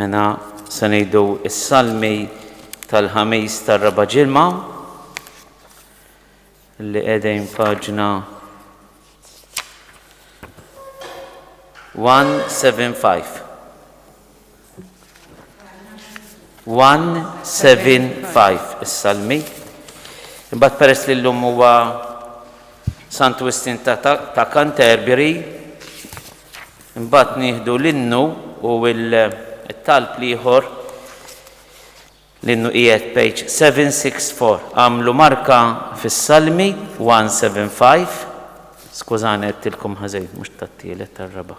Mena se ngħidu s-salmi tal-ħamis tar-raba' ġilma li qegħdin paġna 175. 175 Is-Salmi Imbagħad peress li llum huwa Sant Wistin ta', ta, ta Canterbury, imbagħad nieħdu l-innu u l-talb l-ieħor l-innu qiegħed page 764. Għamlu marka fis-Salmi 175. Skużani qed tilkom ħażejn mhux tat-tielet tar-raba'.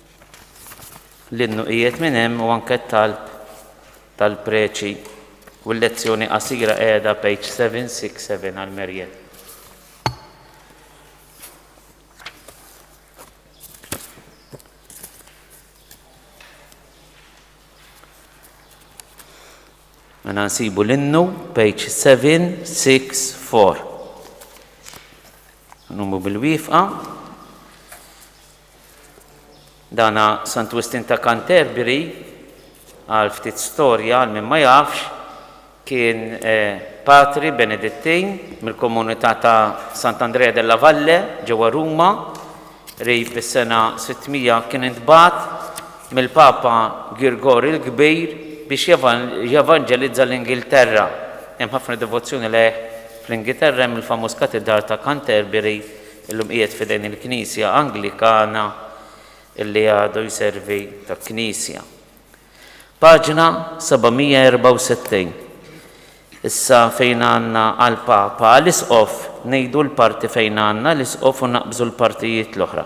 l-innu qiegħed minn hemm u anke t-talb tal-preċi u l-lezzjoni qasira qiegħda page 767 għal Merjen. Mena nsibu l-innu, page 764. Numru bil-wifqa, Dana Sant Wistin ta' Canterbury, għal ftit storja għal min ma jafx, kien patri Benedittin mill-komunità ta' Sant'Andrea della Valle ġewwa Ruma, qrib is-sena 600 kien intbagħat mill-Papa Girgorju l-Kbir biex jevanġelizza l-Ingilterra. Hemm ħafna devozzjoni lejh fl-Ingiterra hemm il-famuż Katidral ta' Canterbury Illum qiegħed f'idejn il-Knisja Anglikana li għadu jservi ta' knisja. Paġna 764. Issa fejn għandna għall-Papa għall-Isqof ngħidu l-parti fejn għandna l-Isqof u naqbżu l-partijiet l-oħra.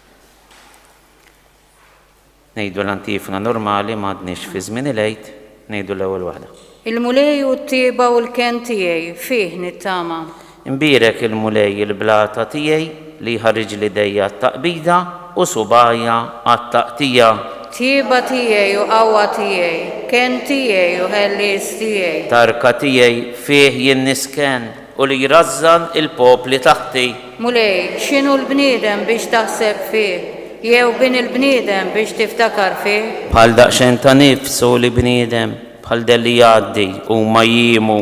Ngħidu l-antifona normali m'għadniex fi żmien il-Għid, ngħidu l-ewwel waħda. Il-Mulej hu t-tjieba u l-kenn tiegħi, fih nittama. Imbierek il-Mulej il-blata tiegħi li jħarriġli jdejja għat-taqbida u subgħajja għat-taqtigħa. Tjieba tiegħi u qawwa tiegħi, kenn tiegħi u ħellies tiegħi. Tarka tiegħi, fih jien nisken. U li jrażżan il-popli taħti. Mulej, x'inhu l-bniedem biex taħseb fih, jew bin il-bniedem biex tiftakar fih? Bħal daqxen ta' nifs hu l-bniedem, bħal dell li jgħaddi, huma jiemu.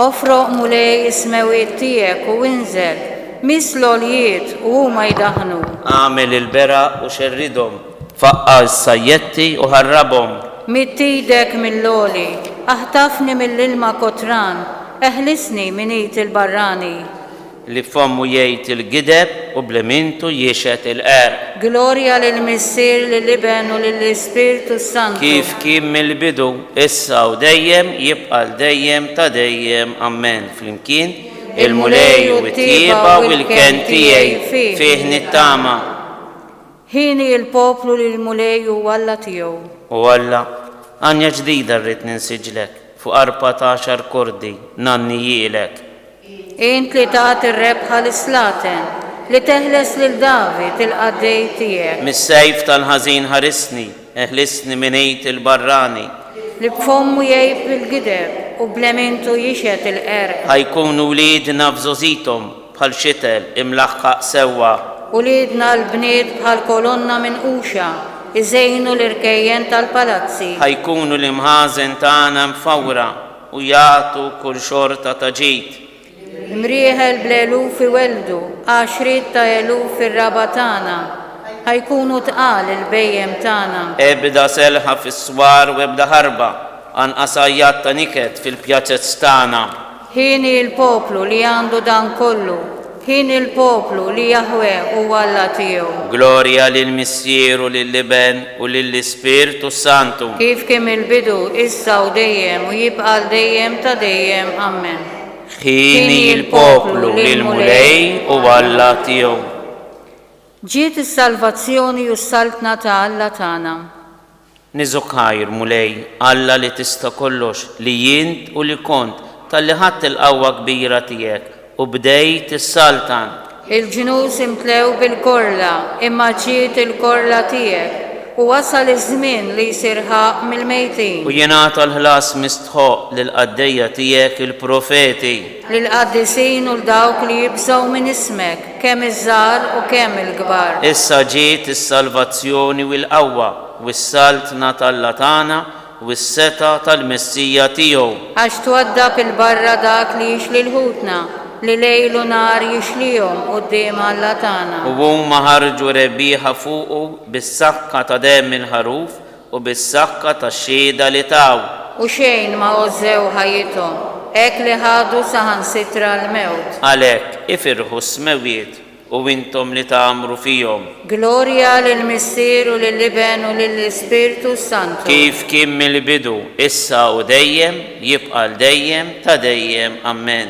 Ofroq, Mulej, is-smewwiet tiegħek u inżel, miss l-għoljiet, u huma jdaħħnu. Agħmel il-beraq u xerridhom. Faqqa' s-sajjetti u ħarrabhom. Midd idek mill-għoli. Aħtafni mill-ilma kotran. Eħlisni minn id il-barrani. Li f'fommu jgħid il-gideb u bl-imintu jixhed il-qerq. Glorja lill-Missier, lill-Iben u lill-Ispirtu s-Santu. Kif kien mill-bidu, issa u dejjem, jibqa' għal dejjem ta' dejjem. Ammen. Flimkien, Il-Mulej u t-tjieba u l-kenn tiegħi, fih nittama. Hieni l-poplu li l-Mulej hu Alla tiegħu. O Alla, għanja ġdida rrid ninsiġlek, fuq arpa ta' għaxar kordi ngħanni jilek. Int li tat ir-rebħa lis-slaten, li teħles lil David, il-qaddej tiegħek. Mis-sejf tal-ħażin ħarisni, eħlisni minn id il-barrani. Li b'fommu jgħib il-gideb u b'lemientu jixhed il-qerq. Ħa jkunu wliedna f'żogħżithom, Bħal xitel imlaħħaq sewwa. Uliedna l-bniet bħal kolonna minquxa jżejnu l-irkejjen tal-palazzi. Ħa jkunu l-imħażen tagħna mfawra u jagħtu kull xorta ta' ġid. Imrieħel bl-eluf iwelldu għaxriet ta' eluf ir-raba' tagħna. Ħa jkunu tqal il-bhejjem tagħna. Ebda selħa fis-swar u ebda ħarba, anqas għajjat ta' niket fil-pjazez tagħna. Hieni l-poplu li għandu dan kollu, hieni l-poplu li Jaħwe huwa Alla tiegħu. Glorja lill-Missier u lill-Iben u lill-Ispirtu s-Santu. Kif kien mill-bidu, issa u dejjem, u jibqa' għal dejjem ta' dejjem. Ammen. Hieni l-poplu li l-Mulej huwa Alla tiegħu. Ġiet is-salvazzjoni u s-saltna ta' Alla tagħna. Niżokajr, Mulej, Alla li tista' kollox, li int u li kont, talli ħadt il-qawwa kbira tiegħek u bdejt issaltan. Il-ġnus imtlew bil-korla, imma ġiet il-korla tiegħek, u wasal iż-żmien li jsir ħaqq mill-mejtin. U jingħata l-ħlas mistħoqq lill-qaddejja tiegħek il-profeti. Lill-qaddisin u 'l dawk li jibżgħu minn ismek, kemm iż-żgħar u kemm il-kbar. Issa ġiet is-salvazzjoni u l-qawwa u s-Saltna t'Alla tagħna u s-setgħa tal-Messija tiegħu. Għax twaddab 'il barra dak li jixli l-ħutna, li lejl u nhar jixlihom quddiem Alla tagħna. U huma ħarġu rebbieħa fuqu bis-sakka ta' demm il-ħaruf U bis-sakka tax-xhieda li taw. U xejn ma għożżew ħajjithom. Hekk li ħadu saħansitra l-mewt. Għalhekk, ifirħu s-smewwiet, u intom li tgħammru fihom. Glorja lill-Missier u lill-Iben u lill-Ispirtu s-Santu. Kif kien mill-bidu, issa u dejjem, jibqa' għal dejjem ta' dejjem. Ammen.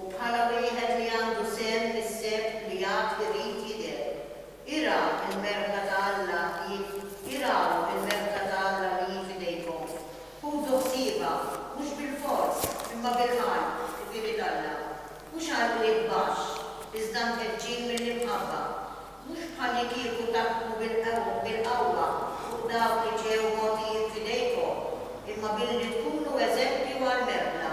u bħala wieħed li għandu sehem fis-seb li għad irid jidher. Ira l-merħla ta' Alla li Iraw il-merħla ta' Alla li hi f'idejkom. Ħudu ħsiebha, mhux bilfors, imma bil-ħajr, ħbieb t'Alla. Mhux għall-qligħ baxx, iżda mkeġġin mill-imħabba. Mhux bħallikieku taħkmu bil-qawwa fuq dawk li ġew mogħtijin f'idejkom, imma billi tkunu eżempju għall-merħla.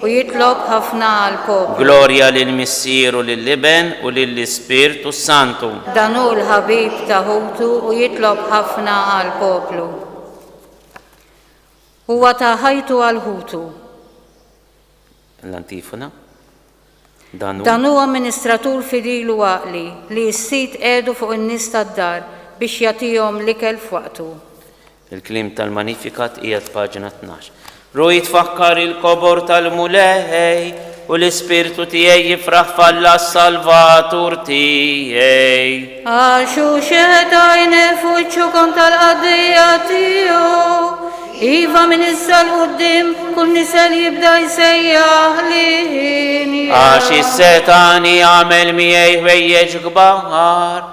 U jitlob ħafna għall-poplu. Glorja lill-Missier u lill-Iben u lill-Ispirtu s-Santu. Dan hu l-ħabib ta' ħutu u jitlob ħafna għall-poplu. Huwa ta ħajtu għal ħutu. L-antifona. Dan hu. Dan hu amministratur fidil u għaqli li s-Sid qiegħdu fuq in-nies tad-dar biex jagħtihom l-ikel f'waqtu. Il-kliem tal-Magnificat qiegħed f'paġna tnax. Ruħi tfakkar il-kobor tal-Mulej u l-ispirtu tiegħi jifraħ f'Alla s-Salvatur tiegħi. Għax hu xeħet għajni fuċċukom tal-qaddija tiegħu. Iva minn issa l-qoddim kull nisel jibda jsejjaħ li Għax is-setani għamel miegħi ħwejjeġ kbar.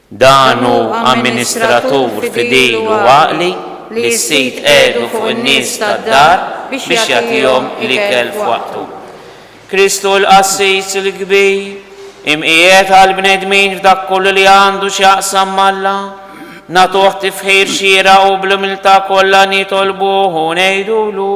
Dan hu amministratur fidil u għaqli li s-Sid qiegħdu fuq in-nies tad-dar biex jagħtihom l-ikel f'waqtu. Kristu hu l-Qassis il-Kbir, imqiegħed għall-bnedmin f'dak kollu li għandu x'jaqsam m'Alla. Nagħtuh tifħir xieraq u bl-umiltà kollha nitolbuh u ngħidulu,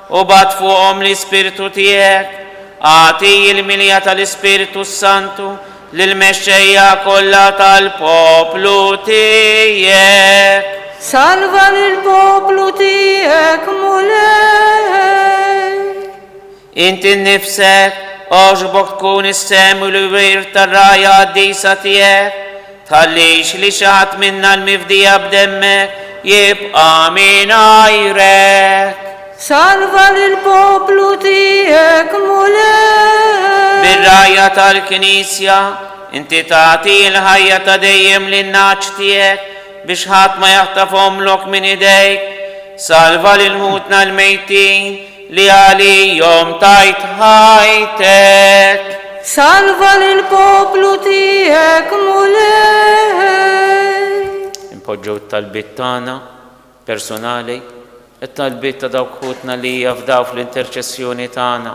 U bagħat fuqhom l-Ispirtu tiegħek. Agħti l-milja tal-Ispirtu s-Santu lill-mexxejja kollha tal-poplu tiegħek. Salva lill-poplu tiegħek, Mulej. Inti nnifsek, għoġbok tkun is-sehem u l-wirt tar-rgħajja qaddisa tiegħek. Tħallix li xi ħadd minna l-mifdija b'demmek jibqa' mingħajrek. Salva lill-poplu tiegħek, Mulej. Bir-rgħajja tal-Knisja, inti tagħti l-ħajja ta' dejjem lin-nagħaġ tiegħek biex ħadd ma jaħtafhomlok minn idejk. Salva lil ħutna l-mejtin. Li għalihom tajt ħajtek. Salva lill-poplu tiegħek, Mulej. Inpoġġew it-talbiet tagħna personali, it-talbiet ta' dawk ħutna li jafdaw fl-interċessjoni tagħna.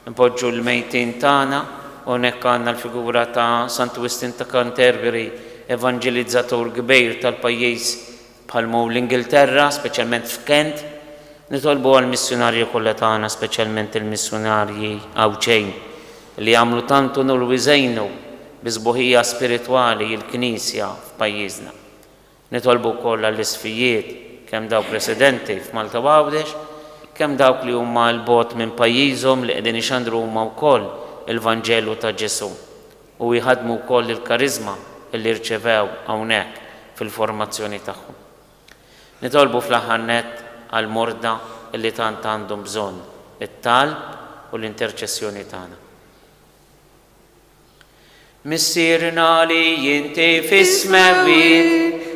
Inpoġġu l-mejtin tagħna, u hawnhekk għandna l-figura ta' Santu Wistin ta' Canterbury, evanġelizzatur kbir tal-pajjiż Bħal mou l-Ingilterra, speċjalment f'Kent, nitolbu għall-missjunarji kollha tagħna, speċjalment il-missjunarji Għawdxejn, li għamlu tant unur u jżejnu bi sbuħija spiritwali l-Knisja f'pajjiżna. Nitolbu wkoll għall-isqfijiet, kemm dawk residenti f'Malta u Għawdex, kemm dawk li huma 'l bogħod minn pajjiżhom li qegħdin ixandru huma wkoll il-Vanġelu ta' Ġesù. u jħaddmu wkoll il-kariżma li rċevew hawnhekk fil-formazzjoni tagħhom. Nitolbu fl-aħħar nett għall-morda li tant għandhom bżonn it-talb u l-interċessjoni tagħna. Missierna li inti fis-smewwiet.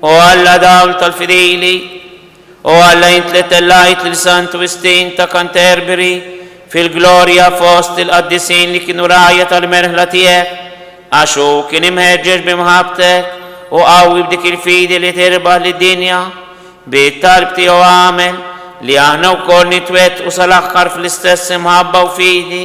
O Alla dawl tal-fidili, O Alla int li tellajt lil Santu Wistin ta' Canterbury fil-glorja fost il-qaddisin li kienu rgħajja tal-merħla tiegħek, għax hu kien imħeġġeġ b'imħabbtek u qawwi b'dik il-fidi li tirbaħ lid-dinja, bi t-talb tiegħu agħmel li aħna wkoll nitwettqu sal-aħħar fl-istess imħabba u fidi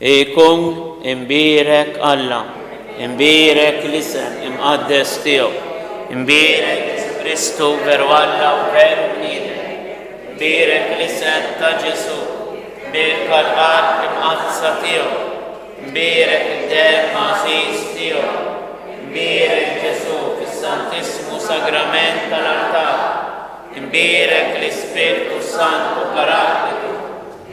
Ikun imbierek Alla, imbierek l-isem imqaddes tiegħu, imbierek Ġesù Kristu veru Alla u veru bniedem, imbierek l-isem ta' Ġesù, imbierka l-qalb imqaddsa tiegħu, imbierek id-demm għażiż tiegħu, imbierek Ġesù fis-Santissmu Sagrament tal-artal, imbierek l-Ispirtu s-Santu Paraklitu,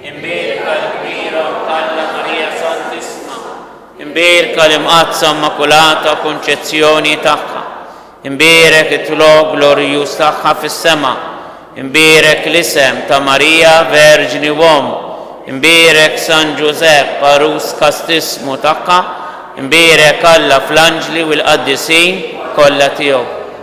Imbierka l-Kbira Mħalla Marija Santissima. Imbierka l-Imqaddsa Immakulata Kunċezzjoni tagħha. Imbierek it-tlok glorjuż tagħha fis-sema. Imbierek l-isem ta' Marija Verġni u Omm. Imbierek San Ġużepp, għarus kastissmu tagħha. Imbierek Alla fl-anġli u l-qaddisin kollha tiegħu.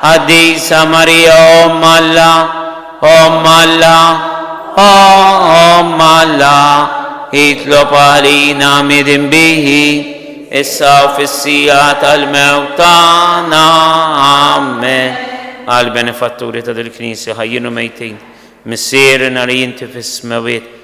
Qaddisa Marija Omm Alla, Omm Alla, Omm Alla, itlob għalina midinbiji, issa u fis-siegħa tal-mewt tagħna. Amen. Għall-benefatturi ta' dil-Knisja ħajjin u mejtin, Missierna li inti fis-smewwiet,